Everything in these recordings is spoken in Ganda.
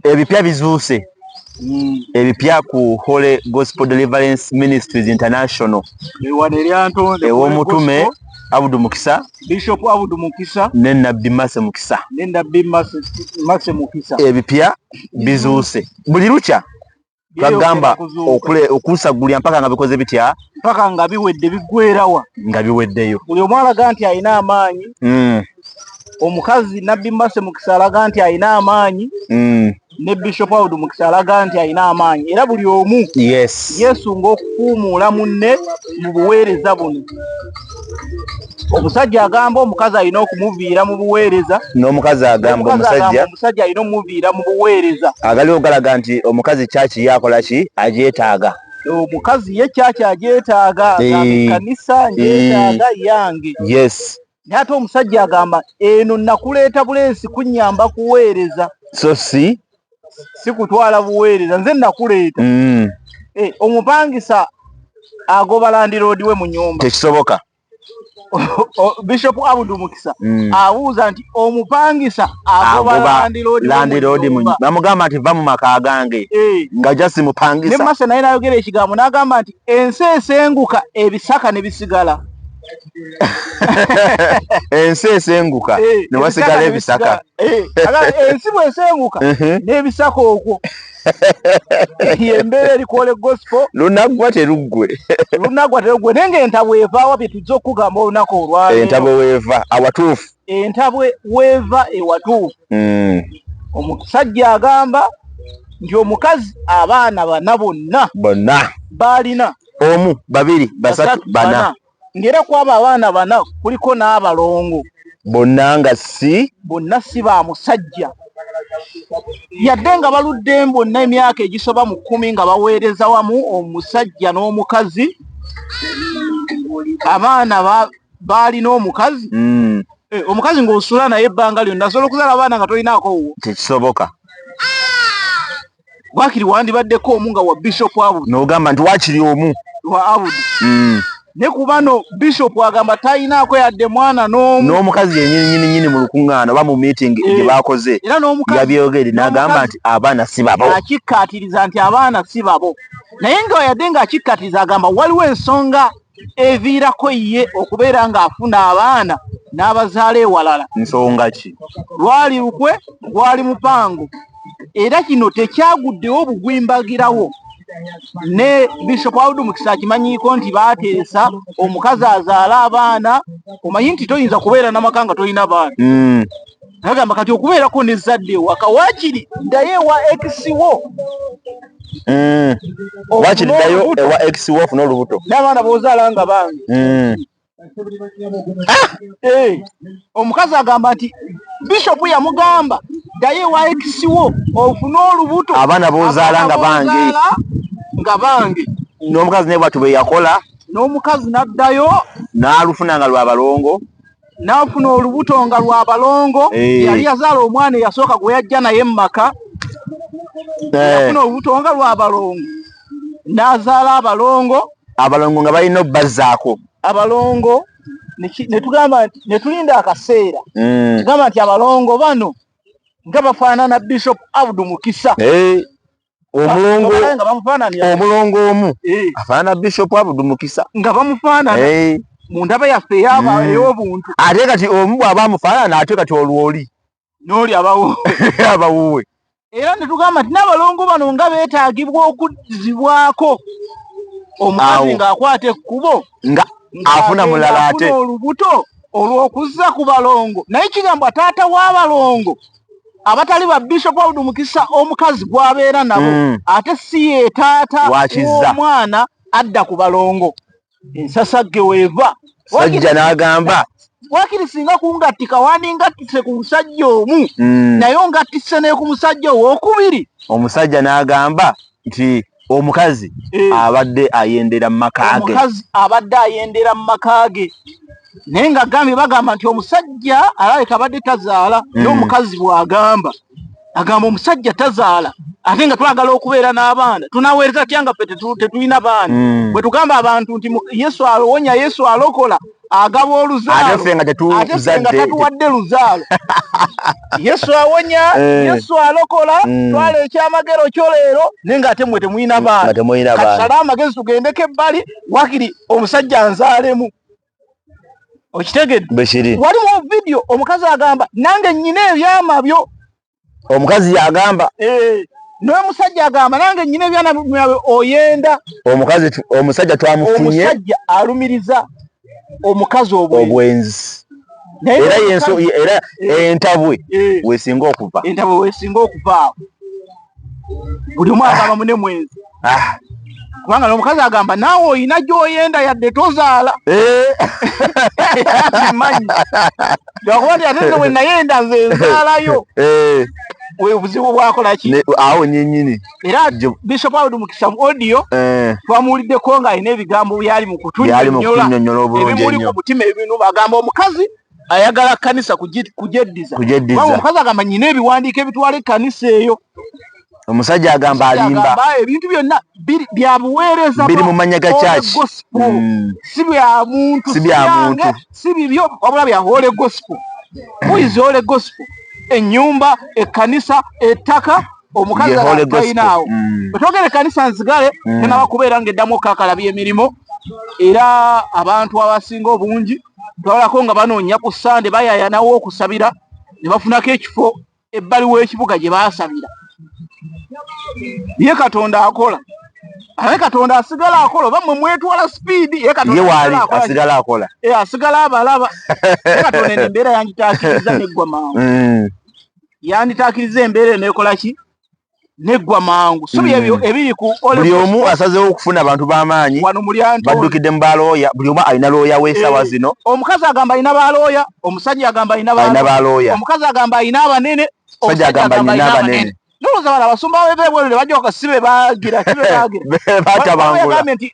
ebipya bizuuse mm. ebipya ku holy gospel deliverance ministries international ewomutume abudu mukisa bishop abudu mukisa ne nabbi mase mukisa ne nabbi mase mukisa ebipya bizuuse buli lukya bagamba okusaggulira mpaka nga bikoze bitya mpaka nga biwedde biggwerawa nga biweddeyo buli omu alaga nti alina amaanyi hmm. omukazi nabbi mase mukisa alaga nti alina amaanyi hmm. ne bishop aud mukisa alaga nti alina amaanyi era buli omu yesunga okufuumuula munne mu buweereza buno omusajja agamba omukazi alina okumuviira mu buweereza n'omukazi agamba omusajja omusajja alina omuviira mu buweereza agaliwo galaga nti omukazi kyaki yakola ki agyetaaga omukazi ye kyaki agyetaaga kanisa ngyetaaga yange yes naye ate omusajja agamba eno nakuleeta bulensi kunyamba kuweereza so si sikutwala buweereza nze nakuleeta mm. eh, omupangisa agoba landiroodi we mu nyumba tekisoboka bishop abudu mukisa mm. abuuza nti omupangisa agoba landiroodi bamugamba nti va mu maka gange eh. nga jasi mupangisa ne maso naye nayogera ekigambo n'agamba nti ensi esenguka ebisaka ne bisigala ensi esenguka eh, ne wasigala ebisaka eh, ensi bwesenguka n'ebisaka okwo embeera erikole gospel lunaggwa teruggwe lunaggwa teruggwe naye nga entabwe evaawa bye tujja okukugamba olunaku olwalero entabwe weeva awatuufu entabwe weeva ewatuufu hmm. omusajja agamba nti omukazi abaana bana bonna bonna baalina omu babiri basatu bana ngera kwabo abaana bana kuliko n'abalongo bonna nga si bonna si ba musajja yadde nga baludde bonna emyaka egisoba mu kkumi nga baweereza wamu omusajja n'omukazi abaana baalina omukazi mm. eh, omukazi ng'osula naye ebbanga lyonna asobola okuzala abaana nga tolinaako wuwo tekisoboka wakiri wandibaddeko omu nga wa bishop abu nogamba nti wakiri omu wa abudi mm. ne kubano bishop agamba talinaako yadde mwana n'omu n'omukazi yenyininyininyini mu lukuŋŋaana oba mu meeting eh, gye baakoze yabyogere n'agamba nti abaana si babo akikkaatiriza nti abaana si babo naye nga yadde ng'akikkaatiriza agamba waliwo ensonga eviirako ye okubeera ng'afuna abaana n'abazaala ewalala. Nsonga ki? Lwali lukwe, gwali mupango era kino tekyaguddewo bugwimbagirawo ne Bishop Audu Mukisa akimanyiiko nti baateesa omukazi azaala abaana, omanyi nti toyinza kubeera na maka nga tolina baana. Mm. nagamba kati okubeerako ne zadde ewaka wakiri ddayo ewa ekisiwo Mm. wakiri ddayo ewa ex wo ofuna olubuto n'abaana b'ozaala nga bange mm. ah! eh! omukazi agamba nti bishopu yamugamba ddayo ewa ex wo ofune olubuto abaana b'ozaala nga bange nga bange n'omukazi naye bwatu bwe yakola n'omukazi n'addayo n'alufuna nga lwa balongo n'afuna olubuto nga lwa balongo eh. yali yazaala omwana eyasooka gwe yajja naye mu maka eh. yafuna olubuto nga lwa balongo n'azaala abalongo abalongo nga balina obbazaako abalongo netugamba nti netulinda akaseera hmm. tugamba nti abalongo bano nga bafaanana bishop abdu mukisa eh. omulongo omulongo omu eh. afaana bishop abudu mukisa nga bamufaanana eh. mu ndaba yaffe eyaba hmm. ey'obuntu ate kati omu bw'aba amufaanana ate kati olwoli n'oli abawuwe abawuwe era ne tugamba nti n'abalongo bano nga beetaagibwa okuzzibwako omukazi ng'akwata ekkubo nga afuna mulala ate olubuto olw'okuzza ku balongo naye kigambo taata w'abalongo abatali ba bishop aud mukisa omukazi gwabeera nabo mm. ate si ye taata omwana adda ku balongo ensasagge weeva sajja n'agamba wakiri singa kungattika wandingattise ku musajja omu mm. naye ongattise neku musajja owokubiri omusajja n'agamba nti omukazi eh. abadde ayendera mu maka ge omukazi abadde ayendera mu maka ge naye nga gambye bagamba nti omusajja alabika abadde tazaala hmm. naye omukazi bw'agamba agamba omusajja tazaala ate nga twagala okubeera n'abaana tunaweereza tya nga fe tetulina baana hmm. bwe tugamba abantu nti yesu awonya yesu alokola agaba oluzaalo ate nga tatuwadde luzaalo yesu awonya eh. yesu alokola mm. twala ekyamagero kyo leero naye nga ate mwe temulina mm, baanasala amagezi tugendeko ebbali wakiri omusajja nzaalemu okitegedde waliwo vidiyo omukazi agamba nange nyina ebyama byo omukazi yagamba eh, naye musajja agamba nange nyina ebyana byawe oyenda omukazi omusajja twamufunye omusajja alumiriza omukazi obwenzi era yenso era eh, entabwe eh. wesinga okuva entabwe wesinga okuva buli mwana abamu ne mwenzi Ah. kubanga nomukazi agamba naawe olina gyoyenda yadde tozaala manyi lwakuba nti ate nze wenayenda nze nzaalayo obuzibu bwakolaki awo nyenyini era bishop awudi mukisa mu audio twamuwuliddeko nga alina ebigambo byali mu kutunyonyola ebimuli ku mutima ebinu agamba omukazi ayagala kanisa kugyeddiza omukazi agamba nyina ebiwandiiko ebitwala ekkanisa eyo omusajja agamba alimba ebintu byonna bya buweereza biri mu mannya ga church mm. si bya muntu si bya muntu si bibyo wabula bya holy gospel who is holy gospel ennyumba ekkanisa ettaka omukazi alinaawo mm. otwogera ekkanisa nzigale mm. tenaba kubeera ng'eddamu okakala by'emirimu era abantu abasinga obungi twalako nga banoonya ku sande bayayanawo okusabira ne bafunako ekifo ebbali w'ekibuga gye baasabira ye katonda akola aye katonda asigala akola oba mwe mwetwala sipiidi ye katondawaali asigala akola e, asigala abalaba ye katonda eno embeera yanditakiriza neggwa mangu mm. yanditakiriza embeera eno ekola ki neggwa mangu so byebyo mm. ebiri ku buli omu asazeewo okufuna abantu b'amaanyi baddukidde mu balooya buli omu alina looya w'esawa eh, zino omukazi agamba alina balooya omusajja agamba alina balooya omukazi agamba alina abanene omusajja agamba alina abanene nolowooza bano abasumba bebebwerere bajja okasibe bagira kibe bagira batabangula nti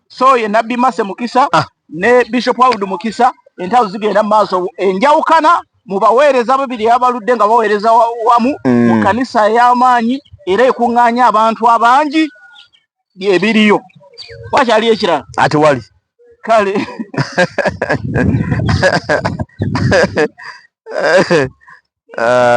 so ye nabbi mase mukisa ah. ne bishop audu mukisa entalo zigenda maaso enjawukana mu baweereza babiri abaludde nga baweereza wamu mm. mu kanisa ey'amaanyi era ekuŋŋaanya abantu abangi byebiriyo wakyali ekirala ati wali kale uh,